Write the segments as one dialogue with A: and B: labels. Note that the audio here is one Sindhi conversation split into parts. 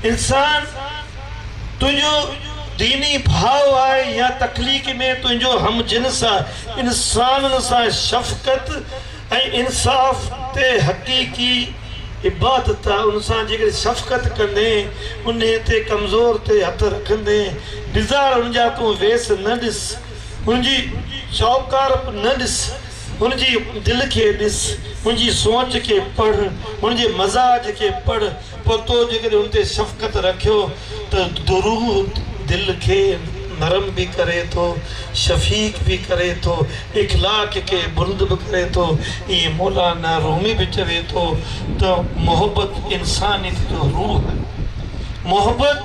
A: انسان تنهنجو ديني ڀاء آهي يا تخليق ۾ تنهنجو هم جنس آهي. انسانن سان شفقت ۽ انصاف تي حقيقي عبادت آهي. ان سان جيڪڏهن شفقت ڪندين، انهي تي ڪمزور تي هٿ رکندين، بيزار هن جا تون ويس نه ڏس، هن جي چؤڪارپ نه ڏس، هن جي دل کي ڏس، هن جي سوچ کي پڙهه، هن جي مزاج کي پڙهه. پوء تو جيڪڏهن ان تي شفقت رکيو ته دروح دل کي نرم به ڪري ٿو، شفيق به ڪري ٿو، اخلاق کي بلند به ڪري ٿو. ائين مولانا رومي به چوي ٿو ته محبت انسانيت جو روح آهي. محبت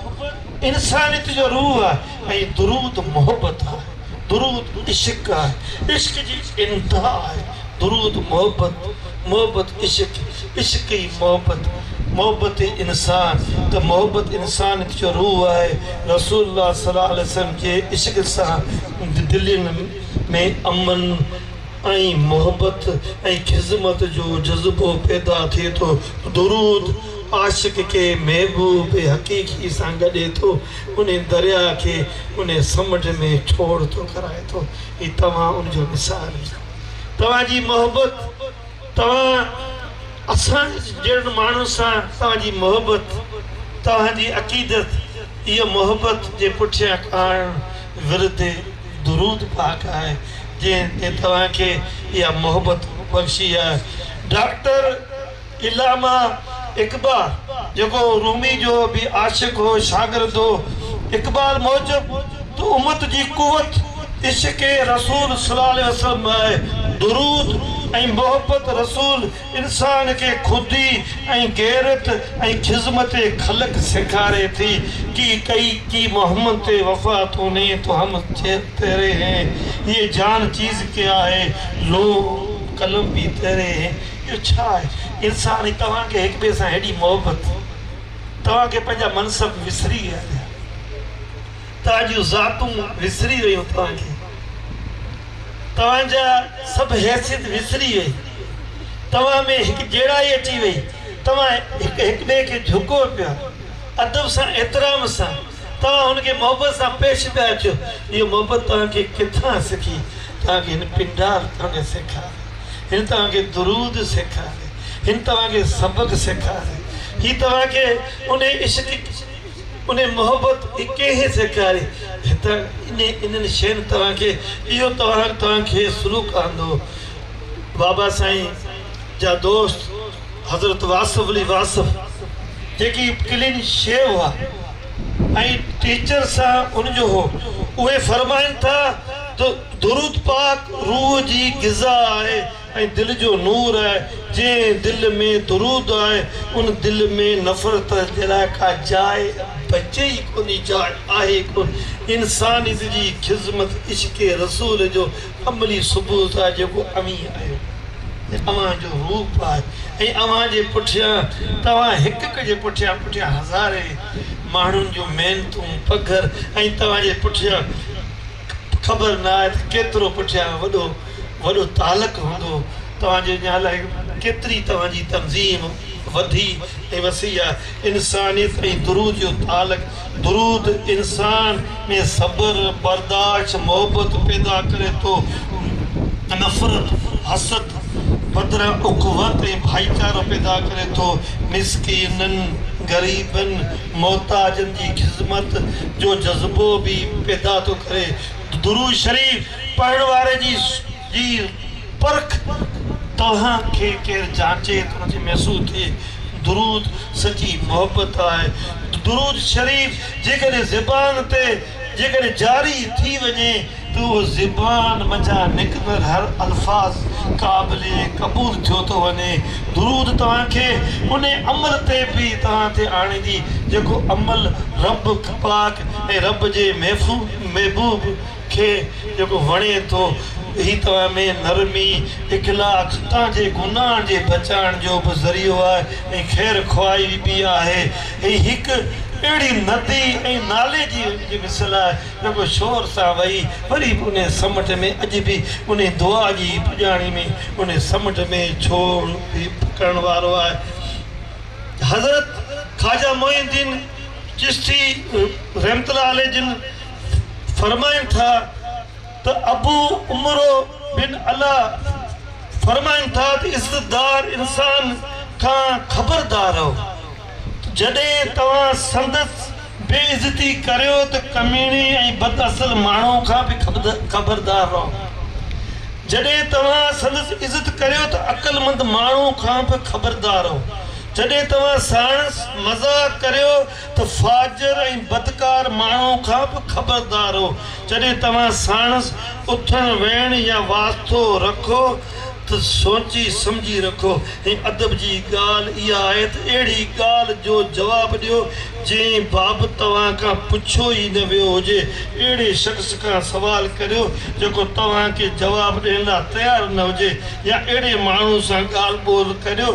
A: انسانيت جو روح آهي. ۽ درود محبت آهي، درود عشق آهي، عشق جي انتها آهي، درود محبت، محبت عشق، عشق ئي محبت، محبت ئي انسان ته محبت انسانيت جو روح آهي، رسول الله صلي الله عليه وسلم جي عشق سان دلين ۾ امن ۽ محبت ۽ خذمت جو جذبو پيدا ٿئي ٿو، درود عاشق کي محبوب حقيقي سان ڳنڍي ٿو. انهي درياء کي انهي سمنڊ ۾ ٺوڙهه ٿو ڪرائي ٿو هي توهان ان جو مثال آهي توهان جي محبت توهان اسان جهڙن ماڻهن سان توهان جي محبت توهان جي عقيدت اهي محبت جي پٺيان ڪاڻ ورد درود پاڪ آهي جنهن توهان کي اها محبت بخشي آهي ڊاڪٽر علامه اقبا جيڪو رومي جو به عاشق هو شاگرد هو. اقبال موجب ته امت جي قوت عشق رسول صلي الله عليه وسلم ۾ آهي. درود ۽ محبت رسول انسان کي خودي ۽ غيرت ۽ خذمت خلق سيکاري ٿي. ڪي ڪئي ڪي محمد تي وفا تو ني تو هم تيري هين. هيء جان چيز ڪيا هي لوح قلم ڀي تيري هين. اهو ڇا آهي انسان ۽ توهان کي هڪ ٻئي سان هيڏي محبت توهان کي پنهنجا منصب وسري ويا آهيو توهان جون ذاتون وسري ويون توهان کي توهان جا سڀ حيثيت وسري وئي توهان ۾ هڪ جيڙائي اچي وئي توهان هڪ هڪ ٻئي کي جهڪو پيا ادب سان احترام سان توهان هن کي محبت سان پيش پيا اچو اهو محبت توهان کي ڪٿان سکي توهان کي هن پنڊار توهان کي سيکاري هن توهان کي درود سيکاري، هن توهان کي سبق سيکاري، هي توهان کي انهي عشق، انهي محبت ڪنهن سيکاري، هتان انهي انهن شين توهان کي اهو توهان توهان کي سلوڪ آندو. بابا سائين جا دوست حضرت واصف علي واصف جيڪي ڪلين شيو هئا. ۽ ٽيچر سان ان جو هو. اهي فرمائن ٿا ته درود پاڪ روح جي غذا آهي ۽ دل جو نور آهي، جنهن دل ۾ درود آهي ان دل ۾ نفرت جي لاء ڪا جاء بچي ئي ڪونهي، جاء آهي ئي ڪونه، انسانيت جي خذمت عشق رسول جو املي صبح جا جيڪو اوهين آهيو هي اوهان جو روپ آهي ۽ اوهان جي پٺيان توهان هڪ هڪ جي پٺيان پٺيان هزارين ماڻهن جون محنتون پگهر ۽ توهان جي پٺيان خبر نه آهي ته ڪيترو پٺيان وڏو وڏو تعلق هوندو توهان جي اڃا الاهي ڪيتري توهان جي تنظيم وڌي ۽ وسي آهي انسانيت ۽ درود جو تعلق درود انسان ۾ صبر، برداشت، محبت پيدا ڪري ٿو. نفرت، حسد بدران اخوت ۽ ڀائيچارو پيدا ڪري ٿو. مسڪينن، غريبن، محتاجن جي خذمت جو جذبو به پيدا ٿو ڪري. درود شريف پڙهڻ واري جي جي پرک توهان کي ڪير جانچي ته ان کي محسوس ٿئي درود سچي محبت آهي درود شريف جيڪڏهن زبان تي جيڪڏهن جاري ٿي وڃي ته اهو زبان منجهان نڪتندڙ هر الفاظ قابل قبول ٿيو ٿو وڃي درود توهان کي ان عمل تي به توهان تي آڻيندي جيڪو عمل رب پاڪ ۽ رب جي محبوب کي جيڪو وڻي ٿو، هي توهان ۾ نرمي، اخلاء، خطائن جي گناهن جي بچائڻ جو به ذريعو آهي ۽ خير خواهي به آهي. هي هڪ اهڙي ندي ۽ نالي جي جي مثل آهي، جيڪو شور سان وهي وري به انهيء سمنڊ ۾ اڄ به انهيء دعا جي ئي پڄاڻي ۾ انهيء سمنڊ ۾ ڇوڙ ڏيئي پڪڙڻ وارو آهي. حضرت خواجه معين الدين چشتي رحمة الله عليه جن فرمائن ٿا ته ابو عمرو بن علا فرمائن ٿا ته عزتدار انسان کان خبردار رهو ته جڏهن توهان سندس بي عزتي ڪريو ته ڪميڻي ۽ بد اصل ماڻهو کان به خبردار رهو جڏهن توهان سندس عزت ڪريو ته عقلمند ماڻهو کان به خبردار رهو جڏهن توهان ساڻس مذاق ڪريو ته فاجر ۽ بدڪار ماڻهو کان به خبردار رهو. جڏهن توهان ساڻس اٿڻ ويهڻ يا واسطو رکو ته سوچي سمجهي رکو ۽ ادب جي ڳالهه اها آهي ته اهڙي ڳالهه جو جواب ڏيو جنهن بابت توهان کان پڇيو ئي نه ويو هجي. اهڙي شخص کان سوال ڪريو جيڪو توهان کي جواب ڏيڻ لاء تيار نه هجي يا اهڙي ماڻهو سان ڳالهه ٻولهه ڪريو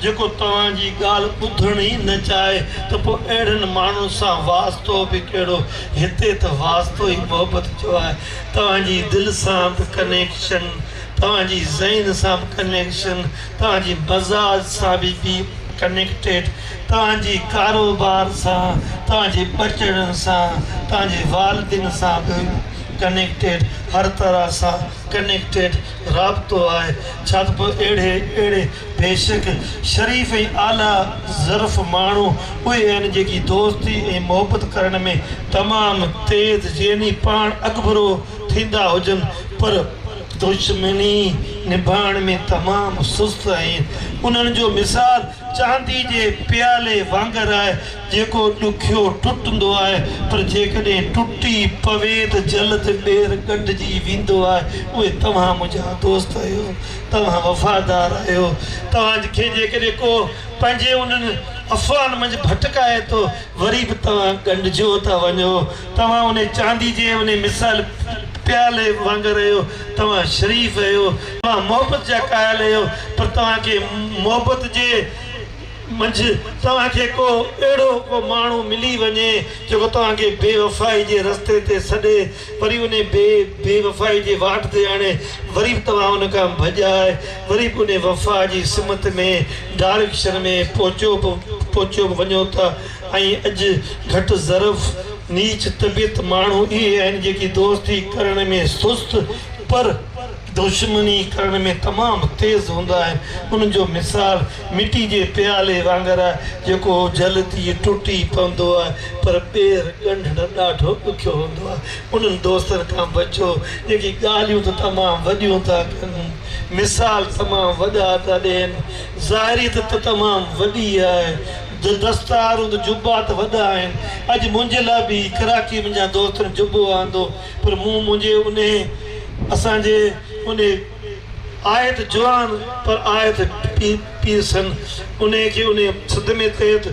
A: جيڪو توهان جي ڳالهه ٻڌڻ ئي نه چاهي ته پوء اهڙن ماڻهن سان واسطو به ڪهڙو، هتي ته واسطو ئي محبت جو آهي. توهان جي دل سان به ڪنيڪشن، توهان جي ذهن سان به ڪنيڪشن، توهان جي مزاج سان به بي ڪنيڪٽيڊ، توهان جي ڪاروبار سان، توهان جي ٻچڙن سان، توهان جي والدين سان به ڪنيڪٽيڊ، هر طرح سان ڪنيڪٽيڊ رابطو آهي. ڇا ته پوء اهڙي اهڙي. بيشڪ شريف ۽ اعليٰ ظرف ماڻهو اهي آهن جيڪي دوستي ۽ محبت ڪرڻ ۾ تمام تيز يعني پاڻ اڳڀرو ٿيندا هجن پر دشمني نڀائڻ ۾ تمام سست آهن انهن جو مثال چاندي جي پيالي وانگر آهي جيڪو ڏکيو ٽٽندو آهي پر جيڪڏهن ٽٽي پوي ته جلد ٻيهر ڳنڍجي ويندو آهي اهي توهان منهنجا دوست آهيو توهان وفادار آهيو. توهان کي جيڪڏهن ڪو پنهنجي انهن افواهن منجهه ڀٽڪائي ٿو، وري به توهان ڳنڍجيو ٿا وڃو. توهان انهي چاندي جي انهي مثال پيالي وانگر آهيو. توهان شريف آهيو. توهان محبت جا قائل آهيو، پر توهان کي محبت جي منجهه توهان کي ڪو اهڙو ڪو ماڻهو ملي وڃي، جيڪو توهان کي بي وفائي جي رستي تي سڏي، وري انهي بي بي وفائي جي واٽ تي آڻي وري به توهان ان کان ڀڄيا آهي وري به انهي وفا جي سمت ۾ ڊاريڪشن ۾ پهچيو به پهچيو به وڃو ٿا ۽ اڄ گهٽ ظرف نيچ طبيعت ماڻهو اهي آهن جيڪي دوستي ڪرڻ ۾ سست پر دشمني ڪرڻ ۾ تمام تيز هوندا آهن. انهن جو مثال مٽي جي پيالي وانگر آهي، جيڪو جلد ئي ٽٽي پوندو آهي، پر ٻيهر ڳنڍڻ ڏاڍو ڏکيو هوندو آهي. انهن دوستن کان بچو، جيڪي ڳالهيون ته تمام وڏيون ٿا ڪن، مثال تمام وڏا ٿا ڏين. ظاهري ته ته تمام وڏي آهي، دستار ۽ جبا ته وڏا آهن. اڄ منهنجي لاء به ڪراچيء منهنجن دوستن جبو آندو. پر مون منهنجي انهي اسان جي انهي آيت جوان پر آيت پير سن انهي کي انهي صدمي تحت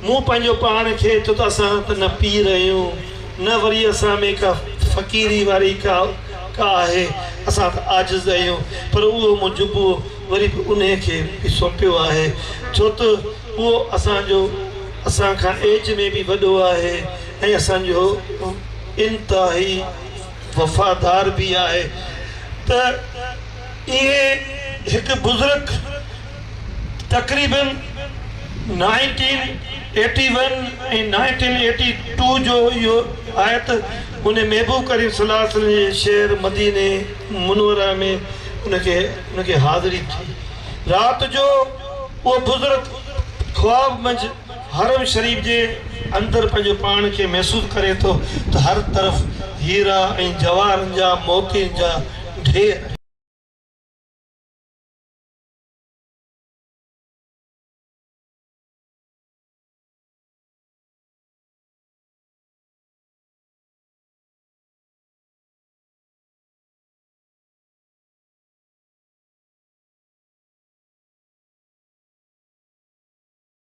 A: مون پنهنجو پاڻ کي ڇو ته اسان ته نه پير اهيون نه وري اسان ۾ ڪا فقيري واري ڪا ڪا آهي اسان ته عاجز اهيون پر اهو مون جبو وري به انهي کي به سونپيو آهي ڇو ته اهو اسان جو اسان کان ايج ۾ به وڏو آهي ۽ اسان جو انتهائي وفادار به آهي ته اهي هڪ بزرگ تقريباً nineteen eighty one ۽ nineteen eighty two جو اهو آيت انهي محبوب ڪريم صلي الله عليه وسلم جي شهر مديني منوره ۾ ان کي ان کي حاضري ٿي رات جو اهو بزرگ خواب منجهه حرم شريف جي اندر پنهنجو پاڻ کي محسوس ڪري ٿو ته هر طرف هيرا ۽ جواهرن جا موتين جا ڍير.